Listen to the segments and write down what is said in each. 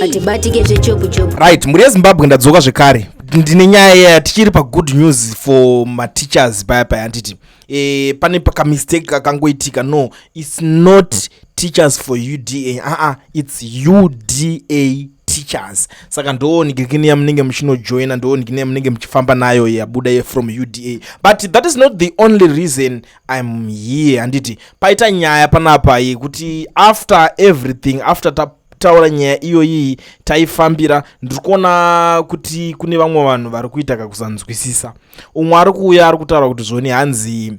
hatibatike zvechopu chopu right mhuri yezimbabwe ndadzoka zvekare ndine nyaya yaya tichiri pagood news for mateachers paya paya handiti e, pane pakamistake kakangoitika no its not teachers for uda aa uh -uh, its uda teachers saka ndoo nigirikini yamunenge muchinojoina ndoo nigirikini yamunenge muchifamba nayo yabuda ye from uda but that is not the only reason im here handiti paita nyaya panapa yekuti after everything after ta taura nyaya iyoyii taifambira ndiri kuona kuti kune vamwe vanhu vari kuita kakusanzwisisa umwe ari kuuya ari kutaura kuti zvoni hanzi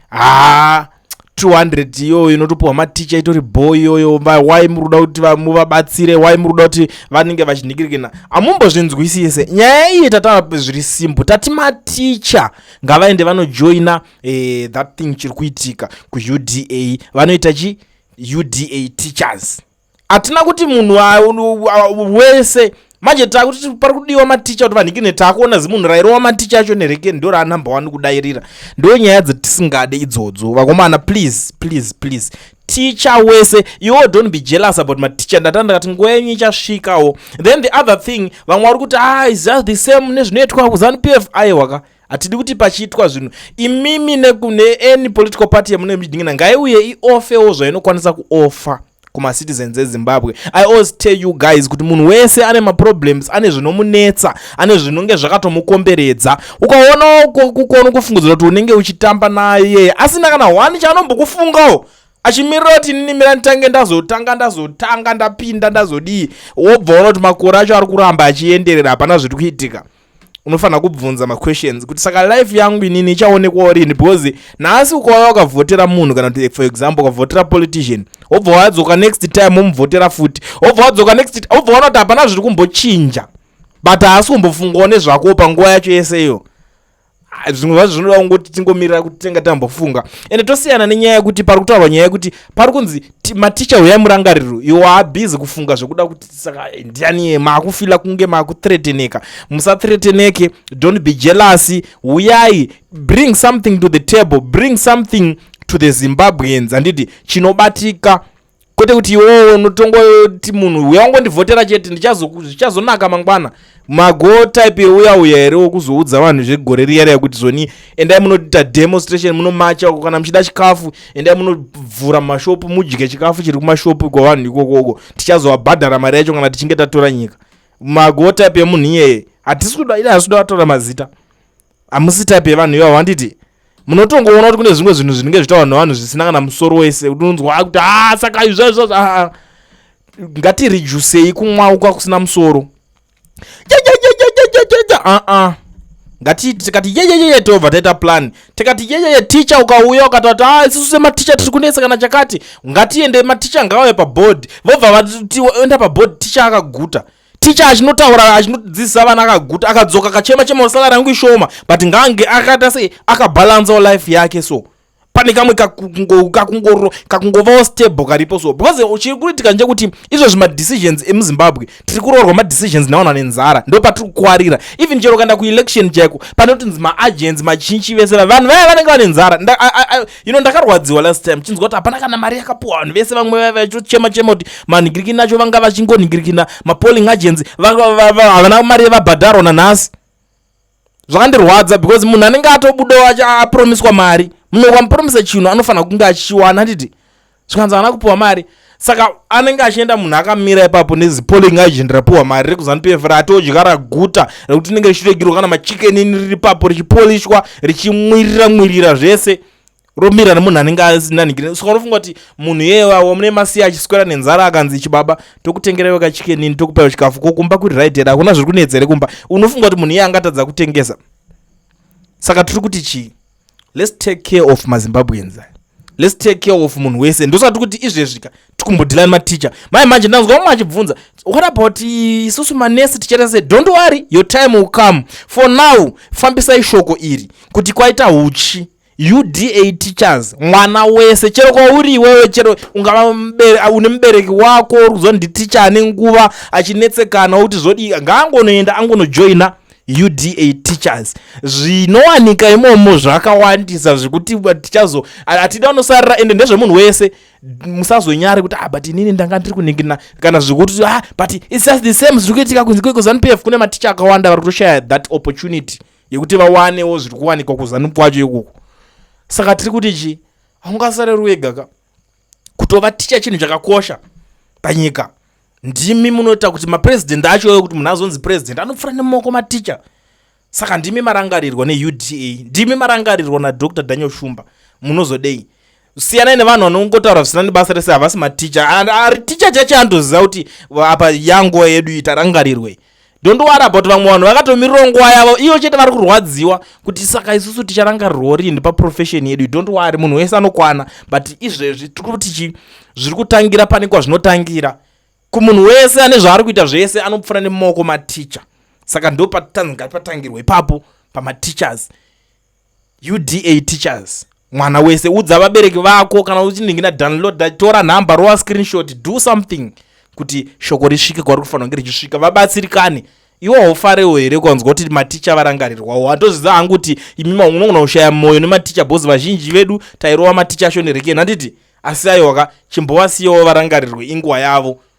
haa 200 iyoyo inotopiwa maticha itori bho iyoyo why muri kuda kuti muvabatsire why muri kuda kuti vanenge vachinhikirikina amumbozvinzwisise nyaya iyi tataura zviri simple tati maticha ngavaende vanojoina eh, that thing chiri kuitika kuuda vanoita chi uda teachers hatina kuti munhu wese manje takuti pari kudiwa maticha kuti vanhikine takuona zimunhu rairowa maticha acho nereke ndo raanumber one kudairira ndo nyaya dzatisingade idzodzo vakomana please please please ticha wese iwo don't be jealous about maticha ndatanda ndakati nguva yenyu ichasvikawo then the other thing vamwe vari kuti ah is just the same nezvinoitwa kuzanu p f aiwaka hatidi kuti pachiitwa zvinhu imimi nekune any political party yamune muchidingina ngaiuye iofewo zvainokwanisa kuofa kumacitizens ezimbabwe i always tell you guys kuti munhu wese ane maproblems ane zvinomunetsa ane zvinonge zvakatomukomberedza ukaonawo kukono kufungudzira kuti unenge uchitamba naye asina kana one chaanombokufungawo achimirira kuti inini mira nditange ndazotanga ndazotanga ndapinda ndazodii wobva ona kuti makore acho ari kuramba achienderera hapana zviri kuitika unofanira kubvunza maquestions kuti saka life yangu inini ichaonekwawo rini because nhasi ukauya wakavhotera munhu kana kuti for example ukavhotera politician wobva wadzoka next time womuvhotera futi wobva wadzoka next wobva waona kuti hapana zviri kumbochinja but haasi kumbofungawo nezvakowo panguva yacho yese iyo Ah, zvimwe zvacho zvinoda kungoti tingomirira kuti tinenge tambofunga ende tosiyana nenyaya yekuti pari kutaurwa nyaya yekuti pari kunzi maticha huyai murangariro iwo haabhizi kufunga zvekuda kuti saka eh, ndianiye maakufila kunge maakutreteneka musatreteneke don't be jealousy huyai bring something to the table bring something to the zimbabweans handiti chinobatika kwete kuti iwewe unotonga kuti munhu uya ungondivhotera chete zvichazonaka mangwana mago type yeuya uya here wokuzoudza vanhu zvegore riya riya kuti zoni endai munoita demonstration munomacha uko kana muchida chikafu endai munovhura mashopu mudye chikafu chiri kumashopu iko vanhu ikoko uko tichazovabhadhara mari yacho kana tichinge tatora nyika mago type yemunhu iyeye hatisi kuda ida hasi kuda vatora mazita hamusi type yevanhu ivavo handiti munotongoona kuti kune zvimwe zvinhu zvinenge zvitaurwa nevanhu zvisina kana musoro wese unonzwa ah, kuti haa ah, saka izvazvazvo aa ah, ngatirijusei kumwauka kusina musoro aa ngati tikati yeyeyeye tobva taita plan tikati yeyeye ticha ukauya ukatati a isisu sematicha tiri kunetsa kana chakati ngatiende maticha ngaauye paboard vobva vatienda paboard ticha akaguta ticha achinotaura achinodzidzisa vana akaguta akadzoka akachema chema salary yangu ishoma but ngaange akaita sei akabalancewo life yake so pane kamwe kakungovawo stable karipo so because chiri kuitika ndechekuti izvozvi madecisions emuzimbabwe tiri kuroorwa madecisions nevanhu vane nzara ndo patiri kukwarira even chero ukaenda kuelection chaiko panotinzi maagents machinchi vese vanhu vaya vanenge vane nzara you know ndakarwadziwa last time chinzwa kuti hapana kana mari yakapuwa vanhu vese vamwe vaiva vachichema chema kuti manhingirikina acho vanga vachingonhingirikina mapolling agency havana mari yevabhadharwa nanhasi zvakandirwadza because munhu anenge atobudawo apromiswa mari munhu ukamupromisa chinhu anofanira kunge achichiwana handiti zvikanzi haana kupiwa mari saka anenge achienda munhu akamira ipapo nezipoling agent rapiwa mari rekuzanu pf ratodya raguta rekuti rinenge richiregirwa kana machikenini riri papo richipolishwa richimwirira mwirira zvese romira nemunhu anenge asina nigiri saka unofunga kuti munhu iyewawo mune masiya achiswera nenzara akanzi chibaba tokutengerewo kachikenini tokupaiwo chikafu ko kumba kuri right here hakuna zviri kunetsa here kumba unofunga kuti munhu iye angatadza kutengesa saka tiri kuti chii let's take care of mazimbabweans let's take care of munhu wese ndosati kuti izvezvika tikumbodhila nematicha mai manje ndanzwa umwe achibvunza what about isusu manesi tichaita se don't worry your time will come for now fambisai shoko iri kuti kwaita huchi uda teachers mwana wese chero kwauri iwewe chero ungava une mubereki wako uri kuziva nditicha ane nguva achinetsekana kuti zvodii ngaangonoenda angonojoina UDA teachers zvinowanika imomo zvakawandisa zvekuti tichazo atida vanosarira ende ndezvemunhu wese musazonyare kuti ah but inini ndanga ndiri kuningina kana zvekuti ah but it's just the same zviri kuitika kunzi kweko zanupf kune maticha akawanda vari kutoshaya that opportunity yekuti vawanewo zviri kuwanikwa kuzanup kwacho ikoko saka tiri kuti chii haungasareri wega ka kutova ticha chinhu chakakosha panyika ndimi munoita kuti mapresident acho oyo kuti munhu azonzi president anopfura nemoko maticha saka ndimi marangarirwa neuda ndimi marangarirwa nadr daniel shumba munozodei siyanai nevanhu vanongotaura zvisina nebasa rese havasi maticha ari ticha chacho andoziva kuti apa yanguva yedu itarangarirwei Don't worry about vamwe vanhu vakatomirira nguva yavo iyo chete vari kurwadziwa kuti saka isusu ticharangarirwa rini paprofession yedu don't worry munhu wese anokwana but izvezvi tiri kuti chi zviri kutangira pane kwazvinotangira kumunhu wese ane zvaari kuita zvese anopfura nemaoko maticha saka ndo patanzi ngatipatangirwa ipapo pamateachers UDA teachers mwana wese udza vabereki vako kana uchiningina downloada tora nhamba rova screenshot do something kuti shoko risvike kwari kufanira kunge richisvika vabatsirikane iwo haufarewo here kwanzwa kuti maticha varangarirwawo handozviza hangu kuti imi maunogona kushaya mwoyo nematicha bhozi vazhinji vedu tairova maticha ashonerekeni handiti asi aiwaka chimbovasiyawo varangarirwe inguva yavo